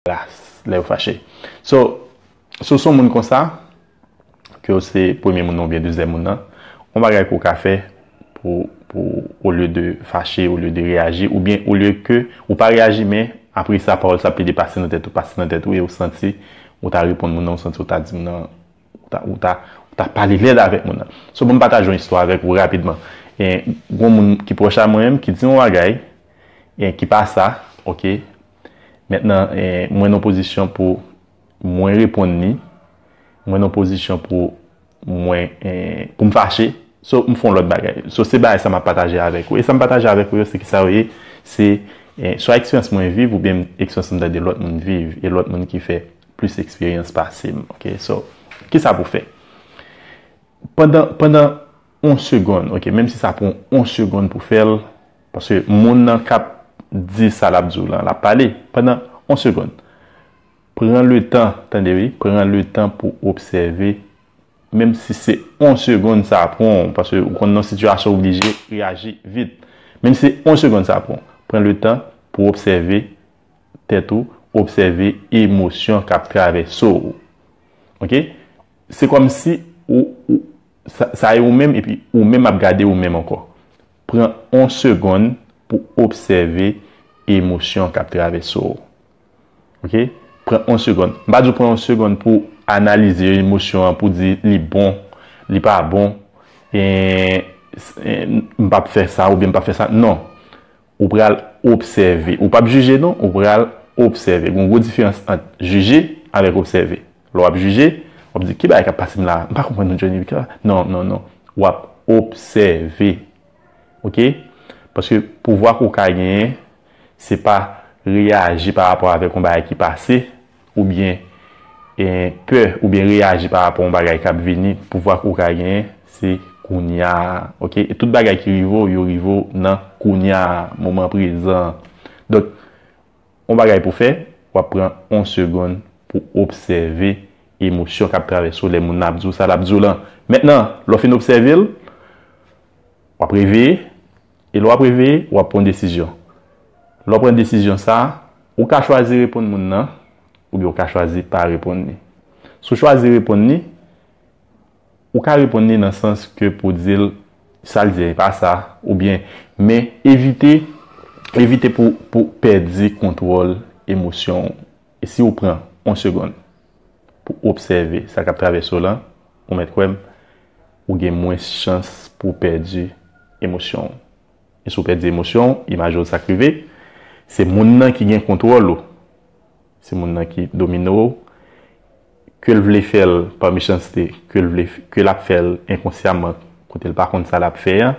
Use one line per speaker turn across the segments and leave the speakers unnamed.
Gras lè yo fache. So, si w se yon moun konsa, ke w se premye moun nan oubyen dezyèm moun nan, yon bagay ke w ka fè pou, pou olye de fache, olye de reyaji, oubyen olye ke ou pa reyaji men apre sa pawòl sa plede pase nan tèt ou, pase nan tèt ou e ou santi ou ta reponn moun nan, ou santi ou ta di moun nan, ou ta, ou ta, ou ta pale lèd avèk moun nan. So, ban m pataje yon istwa avèk ou rapidman. Gen yon moun ki pwòch a mwen menm ki di yon bagay, e ki pa sa, ok. Mentnan mwen nan pozisyon pou mwen reponn li, mwen nan pozisyon pou mwen, pou m fache, so m fè yon lòt bagay. So se bagay sa m ap pataje avèk ou. E sa m pataje avèk ou yo se kisa yo ye? Se swa eksperyans mwen viv oubyen eksperyans m tande lòt moun viv e lòt moun ki fè plis eksperyans pase m. Ok, so kisa pou fè? Pandan, pandan on segonn ok menm si sa pran w on segonn pou fè l paske moun nan kap di sa lap di w lan lap pale pandan on segonn pran le tan tande wi pran le tan pou obsève menm si se on segonn sa pran w paske ou konn nan sitiyasyon ou oblije reyaji vit menm si se on segonn sa pran w pran le tan pou obsève tèt ou obsève emosyon kap travèse w ok se kòmsi ou Sa e ou menm epi ou menm ap gade ou menm ankò. Pran on segonn pou obsève emosyon kap travèse w. Ok. Pran on segonn. M pa di w pran on segonn pou analize emosyon an pou di li bon, li pa bon, m pap fè sa oubyen m pap fè sa. Non. Ou pral obsève. Ou pap jije non, ou pral obsève. Gon gwo diferans ant jije avèk obsève. Lè w ap jije, w ap di, ki bagay k ap pase m la a? M pa konprann non Johnny. Non, non, non. W ap obsève. Ok? Paske pouvwa ke w ka genyen, se pa reyaji pa rapò avèk yon bagay ki pase. oubyen pè oubyen reyaji pa rapò yon bagay kap vini pouvwa ke ou ka genyen se kounya ok e tout bagay ki rive w yo rive w nan kounya moman prezan donk yon bagay pou fè wap pran yon segonn pou obsève emosyon kap travèse w lè moun nan ap di w sa lap di w lan mètnan lè w fin obsève l wap reveye. E lè w ap reveye, w ap pran desizyon. Lè w pran desizyon sa a, ou ka chwazi reponn moun nan oubyen ou ka chwazi pa reponn li. Si w chwazi reponn li, ou ka reponn li nan sans ke pou w di l sa l di a e pa sa oubyen men evite evite pou pou pèdi kontwòl emosyon w. E si ou pran on segonn pou obsève sa k ap travèse w lan, ou mèt kwè m, ou gen mwens chans pou w pèdi emosyon w. E si w pèdi emosyon w, imaje w sa k rive, se moun nan ki gen kontwòl ou, se moun nan ki domine w, Ke l vle fè l pa mechanste, ke l vle, ke l ap fè l enkonsyaman kote l pa konn sa l ap fè an,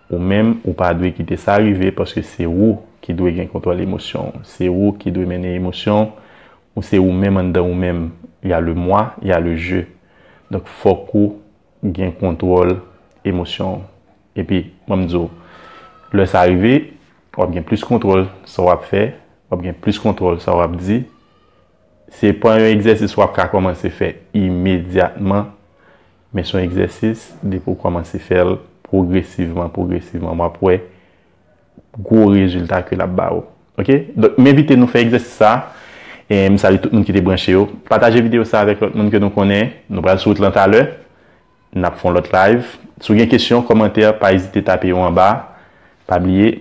ou menm ou pa dwe kite sa rive paske se ou ki dwe gen kontwòl emosyon w, se ou ki dwe mennen emosyon w, ou se ou menm anndan ou menm, y a le moi, y a le je. Donk fòk ou gen kontwòl emosyon w. Epi, ban m di w, lè sa rive, w ap gen plis kontwòl sa w ap fè, w ap gen plis kontwòl sa w ap di, Se pa yon egzèsis wap ka kòmanse fè imedyatman, men son egzèsis depi ou kòmanse fèl pwogresivman pwogresivman wap wè gwo rezilta ke lap ba ou ok. Donk m envite nou fè egzèsis sa, m salye tout moun ki te branche yo, pataje videyo sa avèk lòt moun ke nou konnen, nou pral sou wout lan talè, nap fon lòt live, si w gen kesyon, kòmantè pa ezite tape yo anba, pa bliye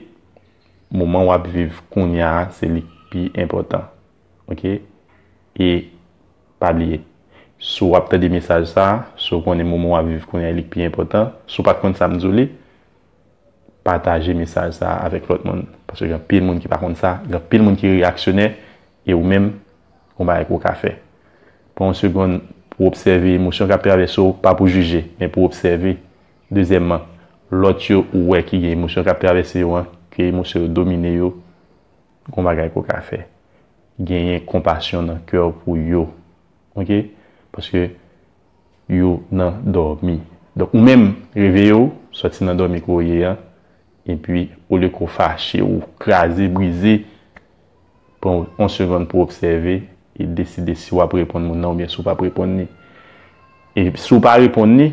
moman wap viv kounya se li k pi enpòtan. Ok e pa bliye si w ap tande mesaj sa a, si w konnen moman w ap viv kounye a li k pi enpòtan, si w pa t konn sa m di w li, pataje mesaj sa a avèk lòt moun paske gen anpil moun ki pa konn sa, gen anpil moun ki reyaksyonè e ou menm gon bagay ke w ka fè. Pran yon segonn pou w obsève emosyon k ap travèse w, pa pou jije men pou w obsève. Dezyèmman, lòt yo ou wè ki gen emosyon k ap travèse yo an, ke emosyon yo domine yo. Gon bagay ke w ka fè. Genyen konpasyon nan kè w pou yo. Ok? Paske yo nan dòmi. Donk ou menm, reveye w, sòti nan dòmi ke w ye an, epi olye ke w fache, ou kraze, brize, pran yon segonn pou w obsève e deside si w ap reponn moun nan oubyen si w pa p reponn li. E si w pa reponn li,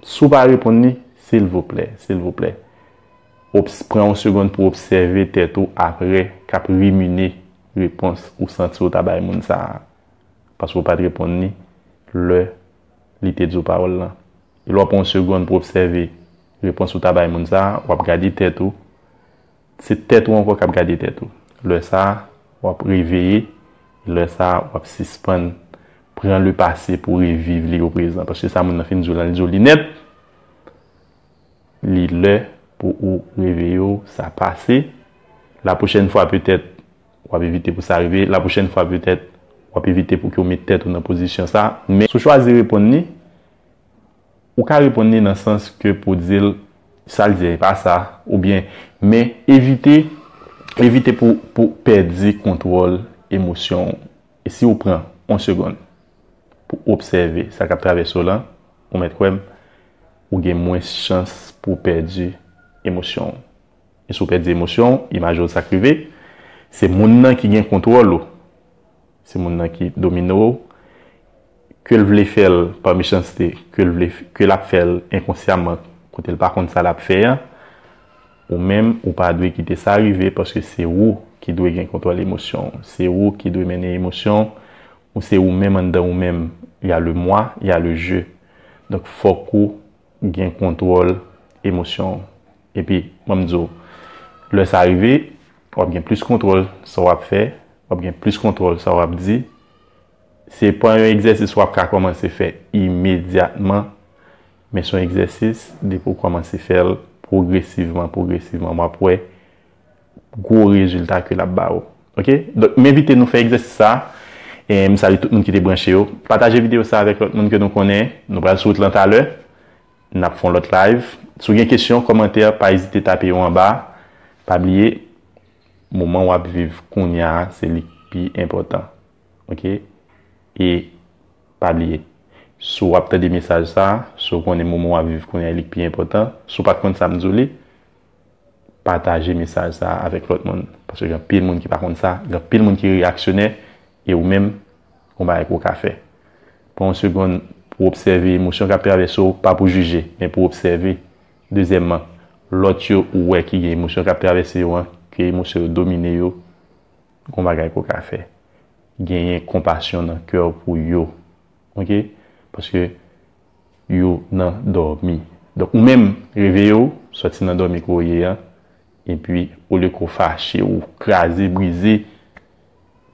si w pa reponn li, silvouplè, silvouplè. Obs, Pran yon segonn pou w obsève tèt ou apre k ap rimine repons ou santi w ta bay moun sa a paske w pa t reponn li lè li te di w pawòl lan. E lè w pran yon segonn pou w obsève repons ou ta bay moun sa a, w ap gade tèt ou. Se tèt ou ankò k ap gade tèt ou. Lè sa a, w ap reveye e lè sa a, w ap sispann pran lepase pou w reviv li oprezan. Paske sa moun lan fin di w lan, li di w li nèt. Li lè pou ou reveye w sa pase la pwochèn fwa petèt wap evite pou sa rive la pwochèn fwa petèt wap evite pou ke w met tèt ou nan pozisyon sa men si w chwazi reponn li ou ka reponn li nan sans ke pou w di l sa l di a e pa sa oubyen men evite evite pou pèdi kontwòl emosyon w. E si ou pran on segonn pou obsève sa k ap travèse w lan, ou mèt kwè m, ou gen mwens chans pou w pèdi emosyon w. E si w pèdi emosyon w, imaje w sa k rive, se moun nan ki gen kontwòl ou, se moun nan ki domine w, Ke l vle fè l pa mechanste, ke l vle, ke l ap fè l enkonsyaman kote l pa konn sa l ap fè an, ou menm ou pa dwe kite sa rive paske se ou ki dwe gen kontwòl emosyon w, se ou ki dwe mennen emosyon ou, se ou menm anndan ou menm, y a le moi, y a le je. Donk fòk ou gen kontwòl emosyon w. Epi, ban m di w, lè sa rive, w ap gen plis kontwòl sa w ap fè, w ap gen plis kontwòl sa w ap di, Se pa yon egzèsis wap ka kòmanse fè imedyatman, men son egzèsis depi ou kòmanse fèl pwogresivman, pwogresivman wap wè gwo rezilta ke lap ba ou. Ok, donk m envite nou fè egzèsis sa, m salye tout moun ki te branche yo. Pataje videyo sa avèk lòt moun ke nou konnen. Nou pral sou wout lan talè, nap fon lòt live. Si w gen kesyon, kòmantè, pa ezite tape yo anba. Pa bliye, moman wap viv kounya se li k pi enpòtan. Ok e pa bliye si w ap tande mesaj sa si w konnen moman w ap viv kounye a li k pi enpòtan si w pat konn sa m di w li pataje mesaj sa avèk lòt moun paske gen anpil moun ki pa konn sa gen anpil moun ki reyaksyonè e ou menm gon bagay ke w ka fè pran yon segonn pou w obsève emosyon k ap travèse w pa pou jije men pou w obsève dezyèmman lòt yo ou wè ki gen emosyon k ap travèse yo an ke emosyon yo domine yo. Gon bagay ke w ka fè. Genyen konpasyon nan kè w pou yo. Ok? Paske yo nan dòmi. Donk ou menm, reveye w, sòti nan dòmi ke w ye an, epi olye ke w fache, ou kraze, brize,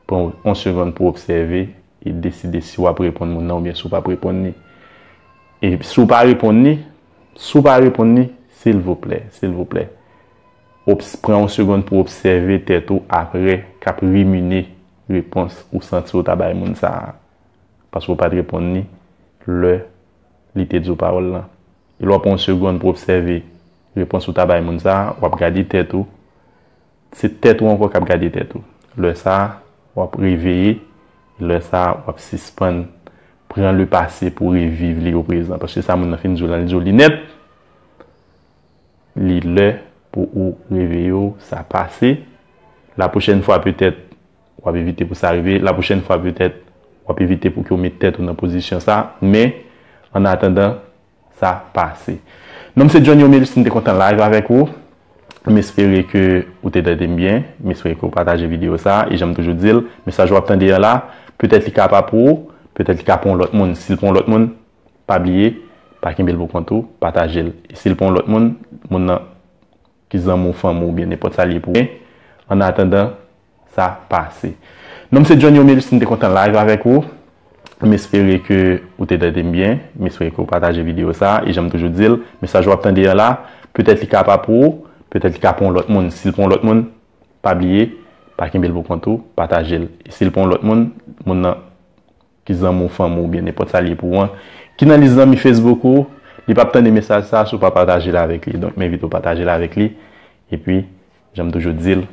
pran yon segonn pou w obsève e deside si w ap reponn moun nan oubyen si w pa p reponn li. E si w pa reponn li, si w pa reponn li, silvouplè, silvouplè. Obs Pran yon segond pou obsève tèt ou apre k ap rimine repons ou santi ou ta bay moun sa a paske ou pa t reponn li lè li te di w pawòl lan. E lè w pran yon segond pou obsève repons ou ta bay moun sa a, w ap gade tèt ou. Se tèt ou ankò k ap gade tèt ou. Lè sa a, w ap reveye e lè sa a, w ap sispann pran lepase pou reviv li oprezan paske sa moun nan fin di w lan, li di w li nèt. Li lè pou ou reveye w, sa pase. La pwochèn fwa petèt w ap evite pou sa rive. La pwochèn fwa petèt w ap evite pou ke w met tèt ou nan pozisyon sa. Men, an atandan, sa pase. Non m se Johnny Omelus, m te kontan live avèk ou. M espere ke ou te tande m byen. M espere ke ou pataje videyo sa. E jan m toujou di l, mesaj w ap tande an la, petèt li ka pa pou ou, petèt li ka pou yon lòt moun. Si l pou yon lòt moun, Pa bliye pa kenbel pou kont ou patajel e sil pou yon lòt moun moun nan ki zanmi w fanmi w oubyen nenpòt sa liye pou an atandan sa pase nonm se Johnny Omelis m te kontan live avèk ou m espere ke ou te tandem byen m espere ke ou pataje video sa e janm toujou dil mesaj wap tande an la petèt li ka pa pou ou petèt li ka pou yon lòt moun sil pou yon lòt moun pa bliye pa kenbel pou kont ou patajel e sil pou yon lòt moun moun nan Ki zanmi w, fanmi w oubyen nenpòt sa l ye pou ou an ki nan lis zanmi Facebook ou, li p ap tande mesaj sa a si w pa pataje l avèk li. Donk m envite w pataje l avèk li. Epi, jan m toujou di l,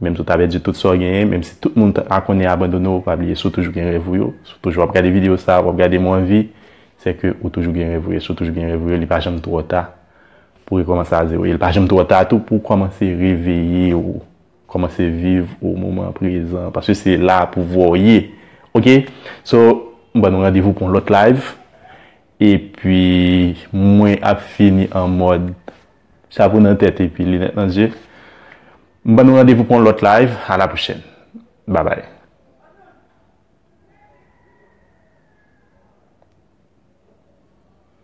menm si w ta pèdi tout sa w genyen, menm si tout moun ta konnen abandone w, pa bliye si w toujou gen rèv ou yo, si w toujou ap gade videyo sa a, w ap gade m ou anvi, se ke ou toujou gen rèv ou yo. Si w toujou gen rèv ou yo, li pa janm twò ta pou w rekòmanse a zewo. E li pa janm twò ta tou pou w kòmanse reveye w. Kòmanse viv au moment présent paske se la pou vwaw ye ok so m ban nou randevou pou yon lòt live epi mwen ap fini an mòd chapo nan tèt epi linèt nan zye m ban nou randevou pou yon lòt live a la pwochèn babay.